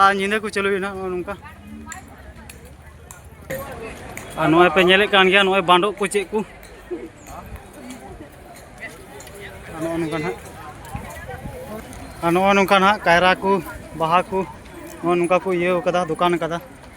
ᱟᱨ ᱧᱤᱫᱟᱹ ᱠᱚ ᱪᱟᱹᱞᱩᱭᱟ ᱱᱟᱦᱟᱜ ᱱᱚᱜᱼᱚ ᱱᱚᱝᱠᱟ ᱟᱨ ᱱᱚᱜᱼᱚᱭ ᱯᱮ ᱧᱮᱞᱮᱫ ᱠᱟᱱ ᱜᱮᱭᱟ ᱱᱚᱜᱼᱚᱭ ᱵᱟᱸᱰᱚᱜ ᱠᱚ ᱪᱮᱫ ᱠᱚ ᱟᱨ ᱱᱚᱜᱼᱚ ᱱᱚᱝᱠᱟ ᱱᱟᱦᱟᱜ ᱟᱨ ᱱᱚᱜᱼᱚ ᱱᱚᱝᱠᱟ ᱱᱟᱦᱟᱜ ᱠᱟᱭᱨᱟ ᱠᱚ ᱵᱟᱦᱟ ᱠᱚ ᱱᱚᱜᱼᱚ ᱱᱚᱝᱠᱟ ᱠᱚ ᱤᱭᱟᱹᱣ ᱠᱟᱫᱟ ᱫᱚᱠᱟᱱ ᱠᱟᱫᱟ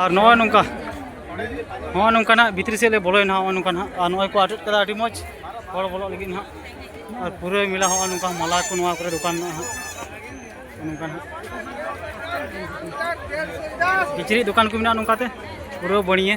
ᱟᱨ ᱱᱚᱜᱼᱚᱭ ᱱᱚᱝᱠᱟ ᱱᱚᱜᱼᱚᱭ ᱱᱚᱝᱠᱟ ᱱᱟᱜ ᱵᱷᱤᱛᱨᱤ ᱥᱮᱫ ᱞᱮ ᱵᱚᱞᱚᱭᱮᱱᱟ ᱱᱚᱜᱼᱚᱭ ᱱᱚᱝᱠᱟ ᱱᱟᱜ ᱟᱨ ᱱᱚᱜᱼᱚᱭ ᱠᱚ ᱟᱴᱮᱫ ᱠᱟᱫᱟ ᱟᱹᱰᱤ ᱢᱚᱡᱽ ᱦᱚᱲ ᱵᱚᱞᱚᱜ ᱞᱟᱹᱜᱤᱫ ᱱᱟᱜ ᱟᱨ ᱯᱩᱨᱟᱹ ᱢᱮᱞᱟ ᱱᱚᱜᱼᱚᱭ ᱱᱚᱝᱠᱟ ᱢᱟᱞᱟ ᱠᱚ ᱱᱚᱣᱟ ᱠᱚᱨᱮ ᱫᱚᱠᱟᱱ ᱢᱮᱱᱟᱜᱼᱟ ᱱᱚᱝᱠᱟ ᱱᱟᱜ ᱠᱤᱪᱨᱤᱡ ᱫᱚᱠᱟᱱ ᱠᱚ ᱢᱮᱱᱟᱜᱼᱟ ᱱᱚᱝᱠᱟᱛᱮ ᱯᱩᱨᱟᱹ ᱵᱟᱹᱲᱤᱭᱟᱹ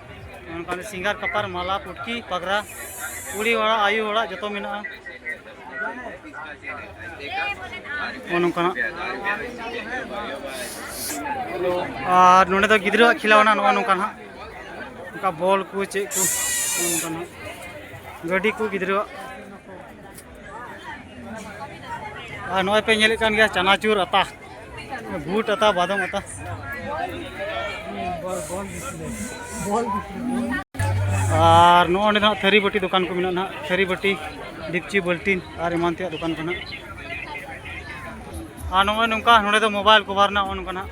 ᱚᱱᱠᱟᱱ ᱥᱤᱝᱜᱟᱨ ᱠᱟᱯᱟᱨ ᱢᱟᱞᱟ ᱯᱩᱴᱠᱤ ᱯᱟᱜᱽᱨᱟ ᱠᱩᱲᱤ ᱦᱚᱲᱟᱜ ᱟᱭᱳ ᱦᱚᱲᱟᱜ ᱡᱚᱛᱚ ᱢᱮᱱᱟᱜᱼᱟ ᱱᱚᱝᱠᱟᱱᱟᱜ ᱟᱨ ᱱᱚᱰᱮ ᱫᱚ ᱜᱤᱫᱽᱨᱟᱹᱣᱟᱜ ᱠᱷᱮᱞᱟᱣᱱᱟ ᱱᱚᱜᱼᱚ ᱱᱚᱝᱠᱟ ᱱᱟᱜ ᱱᱚᱝᱠᱟ ᱵᱚᱞ ᱠᱚ ᱪᱮᱫ ᱠᱚ ᱱᱚᱝᱠᱟ ᱱᱟᱜ ᱜᱟᱹᱰᱤ ᱠᱚ ᱜᱤᱫᱽᱨᱟᱹᱣᱟᱜ ᱟᱨ ᱱᱚᱜᱼᱚᱭ ᱯᱮ ᱧᱮᱞᱮᱫ ᱠᱟᱱ ᱜᱮᱭᱟ ᱪᱟᱱᱟᱪᱩᱨ ᱟᱛᱟ ᱵᱩᱴ ᱟᱛᱟ ᱵᱟᱫᱚᱢ ᱟᱛᱟ ᱟᱨ ᱱᱚᱜᱼᱚ ᱱᱚᱸᱰᱮ ᱱᱟᱦᱟᱜ ᱛᱷᱟᱹᱨᱤ ᱵᱟᱹᱴᱤ ᱫᱚᱠᱟᱱ ᱠᱚ ᱢᱮᱱᱟᱜᱼᱟ ᱱᱟᱦᱟᱜ ᱛᱷᱟᱹᱨᱤ ᱵᱟᱹᱴᱤ ᱰᱤᱯᱪᱤ ᱵᱟᱹᱞᱴᱤᱱ ᱟᱨ ᱮᱢᱟᱱ ᱛᱮᱭᱟᱜ ᱫᱚᱠᱟᱱ ᱠᱚ ᱱᱟᱦᱟᱜ ᱟᱨ ᱱᱚᱜᱼᱚᱭ ᱱᱚᱝᱠᱟ ᱱᱚᱸᱰᱮ ᱫᱚ ᱢᱳᱵᱟᱭᱤᱞ ᱠᱚᱵᱷᱟᱨ ᱨᱮᱱᱟᱜ ᱱᱚᱜᱼᱚ ᱱᱚᱝᱠᱟ ᱱᱟᱦᱟᱜ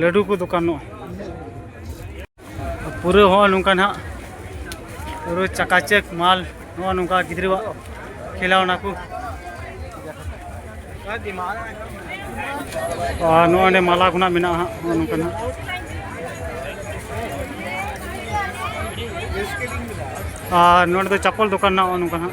ᱞᱟᱹᱰᱩ ᱠᱚ ᱫᱚᱠᱟᱱᱚᱜᱼᱟ ᱯᱩᱨᱟᱹ ᱦᱚᱸ ᱱᱚᱝᱠᱟ ᱱᱟᱦᱟᱜ ᱯᱩᱨᱟᱹ ᱪᱟᱠᱟᱪᱮᱠ ᱢᱟᱞ ᱱᱚᱜᱼᱚ ᱱᱚᱝᱠᱟ ᱜᱤᱫᱽᱨᱟᱹᱣᱟᱜ ᱠᱷᱮᱞᱟᱣᱱᱟ ᱠᱚ ᱟᱨ ᱱᱚᱜᱼᱚᱸᱰᱮ ᱢᱟᱞᱟ ᱠᱷᱚᱱᱟᱜ ᱢᱮᱱᱟᱜᱼᱟ ᱦᱟᱸᱜ ᱱᱚᱜᱼᱚ ᱱᱚᱝᱠᱟ ᱱᱟᱦᱟᱜ ᱟᱨ ᱱᱚᱸᱰᱮ ᱫᱚ ᱪᱟᱯᱚᱞ ᱫᱚᱠᱟᱱ ᱱᱟᱜ ᱱᱚᱝᱠᱟ ᱱᱟᱜ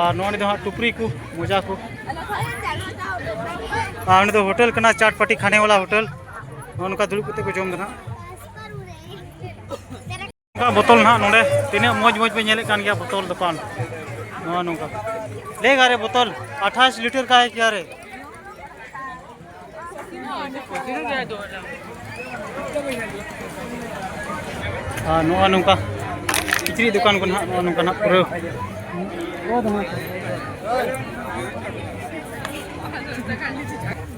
ᱟᱨ ᱱᱚᱣᱟ ᱱᱤᱛᱚᱜ ᱦᱟᱸᱜ ᱴᱩᱯᱨᱤ ᱠᱚ ᱢᱚᱡᱟ ᱠᱚ ᱟᱨ ᱱᱤᱛᱚᱜ ᱦᱳᱴᱮᱞ ᱠᱟᱱᱟ ᱪᱟᱴ ᱯᱟᱴᱤ ᱠᱷᱟᱱᱮ ᱣᱟᱞᱟ ᱦᱳᱴᱮᱞ ᱱᱚᱝᱠᱟ ᱫᱩᱲᱩᱵ ᱠᱟᱛᱮ ᱠᱚ ᱡᱚᱢ ᱫᱟ ᱱᱟᱜ ᱱᱚᱝᱠᱟ ᱵᱚᱛᱚᱞ ᱱᱟᱜ ᱱᱚᱰᱮ ᱛᱤᱱᱟᱹᱜ ᱢᱚᱡᱽ ᱢᱚᱡᱽ ᱯᱮ ᱧᱮᱞᱮᱫ ᱠᱟᱱ ᱜᱮᱭᱟ ᱵᱚᱛᱚᱞ ᱫᱚᱠᱟᱱ ᱱᱚᱣᱟ ᱱᱚᱝᱠᱟ ᱞᱮᱜᱟ ᱨᱮ ᱵᱚᱛᱚᱞ ᱟᱴᱷᱟᱥ ᱞᱤᱴᱟᱨ ᱠᱟᱭ ᱠᱮᱭᱟ ᱨᱮ ᱟᱨ ᱱᱚᱜᱼᱚ ᱱᱚᱝᱠᱟ ᱠᱤᱪᱨᱤᱡ ᱫᱚᱠᱟᱱ ᱠᱚ ᱱᱟᱦᱟᱜ ᱱᱚᱜᱼᱚ ᱱᱚᱝᱠᱟ ᱱᱟᱦᱟᱜ ᱯᱩᱨᱟᱹ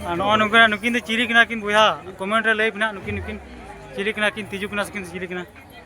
ᱟᱨ ᱱᱚᱜᱼᱚ ᱱᱚᱝᱠᱟ ᱱᱩᱠᱤᱱ ᱫᱚ ᱪᱤᱞᱤ ᱠᱟᱱᱟ ᱠᱤᱱ ᱵᱚᱭᱦᱟ ᱠᱚᱢᱮᱱᱴ ᱨᱮ ᱞᱟᱹᱭ ᱯᱮ ᱱᱟᱦᱟᱜ ᱱᱩᱠᱤᱱ ᱱᱩᱠᱤᱱ ᱪᱤᱞᱤ ᱠᱟᱱᱟ ᱠᱤᱱ ᱛᱤᱡᱩ ᱠᱟᱱᱟ ᱥᱮ ᱠᱤᱱ ᱪᱤᱞᱤ ᱠᱟᱱᱟ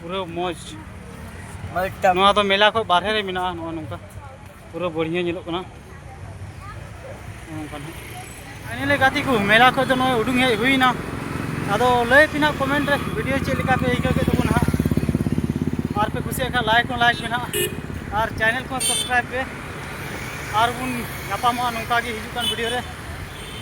ᱯᱩᱨᱟᱹ ᱢᱚᱡᱽ ᱱᱚᱣᱟ ᱫᱚ ᱢᱮᱞᱟ ᱠᱷᱚᱱ ᱵᱟᱨᱦᱮ ᱨᱮ ᱢᱮᱱᱟᱜᱼᱟ ᱱᱚᱜᱼᱚ ᱱᱚᱝᱠᱟ ᱯᱩᱨᱟᱹ ᱵᱟᱹᱲᱤᱭᱟᱹ ᱧᱮᱞᱚᱜ ᱠᱟᱱᱟ ᱱᱚᱝᱠᱟ ᱱᱟᱦᱟᱜ ᱧᱮᱞᱮ ᱜᱟᱛᱮ ᱠᱚ ᱢᱮᱞᱟ ᱠᱷᱚᱱ ᱫᱚ ᱱᱚᱜᱼᱚᱭ ᱩᱰᱩᱝ ᱦᱮᱡ ᱦᱩᱭᱱᱟ ᱟᱫᱚ ᱞᱟᱹᱭ ᱯᱮ ᱱᱟᱦᱟᱜ ᱠᱚᱢᱮᱱᱴ ᱨᱮ ᱵᱷᱤᱰᱤᱭᱳ ᱪᱮᱫ ᱞᱮᱠᱟ ᱯᱮ ᱟᱹᱭᱠᱟᱹᱣ ᱠᱮᱫ ᱛᱟᱵᱚᱱᱟ ᱱᱟᱦᱟᱜ ᱟᱨ ᱯᱮ ᱠᱩᱥᱤᱭᱟᱜ ᱠᱷᱟᱱ ᱞᱟᱭᱤᱠ ᱦᱚᱸ ᱞᱟᱭᱤᱠ ᱯᱮ ᱱᱟᱦᱟᱜ ᱟᱨ ᱪᱮᱱᱮᱞ ᱠᱚᱦᱚᱸ ᱥᱟᱵᱥᱠᱨᱟᱭᱤᱵ ᱯᱮ ᱟᱨ ᱵᱚᱱ ᱧᱟᱯᱟᱢᱚᱜᱼᱟ ᱱᱚᱝᱠᱟ ᱜᱮ ᱦᱤᱡᱩᱜ ᱠᱟᱱ ᱵᱷᱤᱰᱤᱭᱳ ᱨᱮ